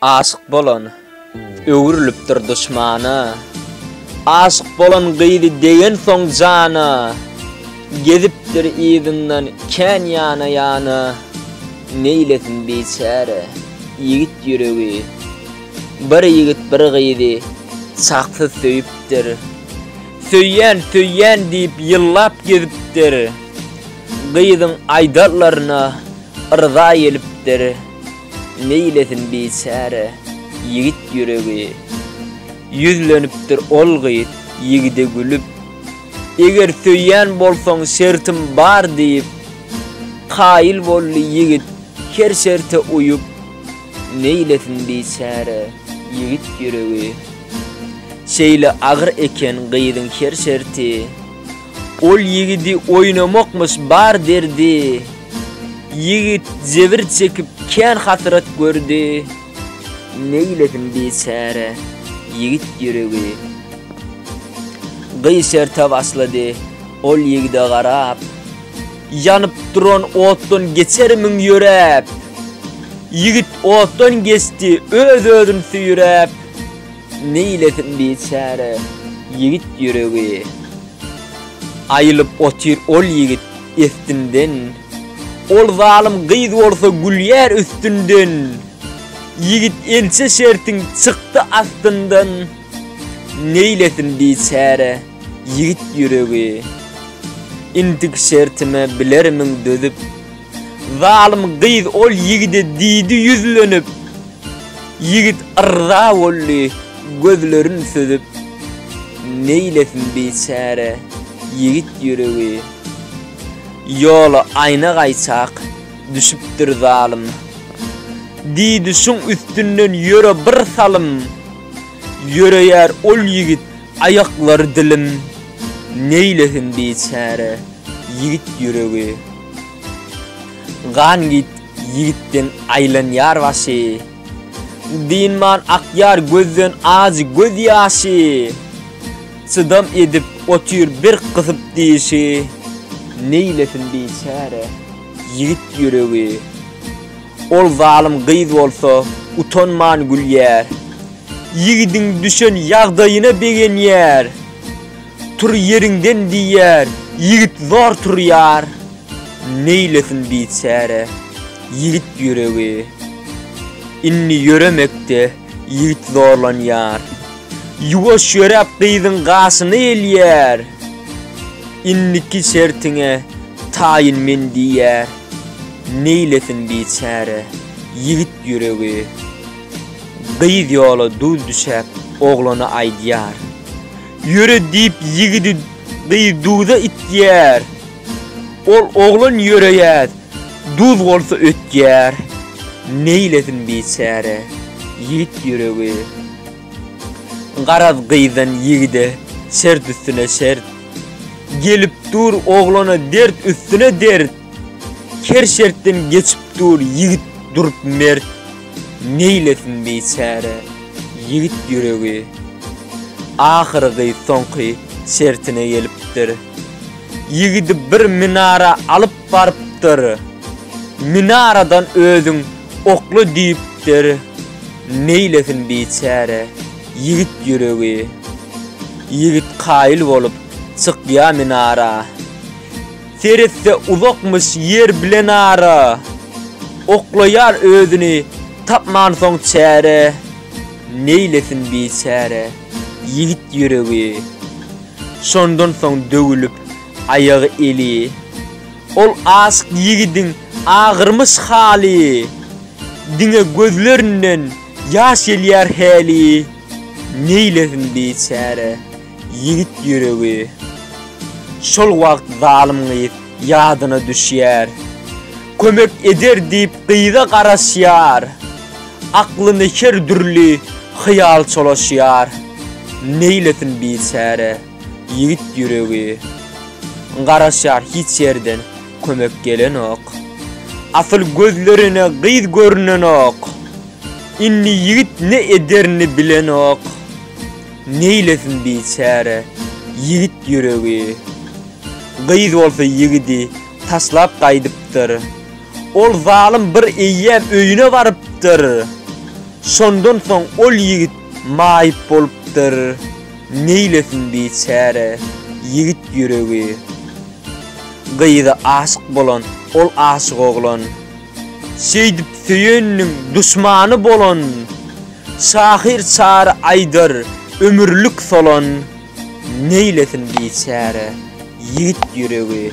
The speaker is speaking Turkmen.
Aşyk bolan öwrülipdir duşmana, Aşyk bolan gyzy degensoň jana, Gezipdir yzyndan kän ýana-ýana, Neýlesin biçäre ýigit ýüregi. Bir ýigit bir gyzy çaksyz söýüpdir, Söýýän, söýýän diýip ýyllap gezipdir, Gyzyň aýdanlaryna yrza gelipdir. Neýlesin biçäre ýigit ýüregi. Ýüzlenipdir ol gyz ýigide gülüp. Eger söýýän bolsaň şertim bar diýip. Kaýyl boldy ýigit her şerte uýup. Neýlesin biçäre ýigit ýüregi. Şeýle agyr eken gyzyň her şerti. Ol ýigidi oýnamakmyş bar derdi, Ýigit jebir çekip kän hasrat gördi. Neýlesin biçäre ýigit ýüregi, Gyş erte başlady ol ýigide garap. Ýanyp duran otdan geçer müň ýöräp, Ýigit otdan geçdi öz-özün süýräp. Neýlesin biçäre ýigit ýüregi. Aýylyp otyr ol ýigit estinden. Ol zalym gyz bolsa gülýär üstünden. Ýigit ençe şertiň çykdy astyndan. Neýlesin biçäre ýigit ýüregi. Intik şertime bilermiň dözüp. Zalym gyz ol ýigide diýdi ýüzlenip. Ýigit yrza boldy, gözlerin süzüp. Neýlesin biçäre ýigit ýüregi. Ýola aýna gaýçak düşüpdir zalym. Diýdi şuň üstünden ýöre bir salym. Ýöreýär ol ýigit aýaklary dilim. Neýlesin biçäre ýigit ýüregi. Gan git ýigitden aýlan ýar başy, Dynman akýar gözden ajy göz ýaşy. Çydam edip otyr bir gysyp dişi, Neýlesin biçäre ýigit ýüregi. Ol zalym gyz bolsa utanman gülýär, Ýigidiň düşen ýagdaýyna begenýär. Tur ýeriňden diýýär, ýigit zor turýar, neýlesin biçäre ýigit ýüregi. Indi ýöremekde ýigit zorlanýar, ýuwaş ýöräp gyzyň gaşyna gelýär, indiki şertiňe taýyn men diýýär, neýlesin biçäre ýigit ýüregi. Gyz ýola duz düşäp oglana aýdýar, Ýöre diýip ýigidi gyz duza itýär. Ol oglan ýöreýäs, duz bolsa ötýär. Neýlesin biçäre, ýigit ýüregi. Garaz gyzdan ýigide şert üstüne şert. Gelip dur oglana dert üstüne dert. Her şertden geçip dur ýigit durup mert, Neýlesin biçäre ýigit ýüregi. Ahyrgy soňky şertine gelipdir. Ýigidi bir minara alyp barypdyr. Minaradan özüň okla diýipdir, Neýlesin biçäre ýigit ýüregi. Ýigit kaýyl bolup çykýa minara. Seretse uzakmyş ýer bilen ara, Oklaýar özüni tapmansoň çäre, Neýlesin biçäre ýigit ýüregi, Şondan soň döwülip aýagy-eli. Ol aşyk ýigidiň agyrmyş haly, Diňe gözlerinden ýaş gelýär häli, Neýlesin biçäre. Ýigit ýüregi şol wagt zalym gyz ýadyna düşýär. Kömek eder diýip gyza garaşýar. Aklyny her dürli hyýal çolaşýar. Neýlesin biçäre ýigit ýüregi. Garaşýar hiç ýerden kömek gelenok. Asyl gözlerine gyz görnenok. Indi ýigit ne ederini bilenok. Neýlesin biçäre ýigit ýüregi. Gyz bolsa ýigidi taşlap gaýdypdyr. Ol zalym bir eýýäm öýüne barypdyr. Şondan soň ol ýigit maýyp bolupdyr. Neýlesin biçäre ýigit ýüregi. Gyza aşyk bolan ol aşyk oglan. Şeýdip söýeniniň duşmany bolan. Şahyr Çary aýdar, Ömürlik solan, neýlesin biçäre ýigit ýüregi.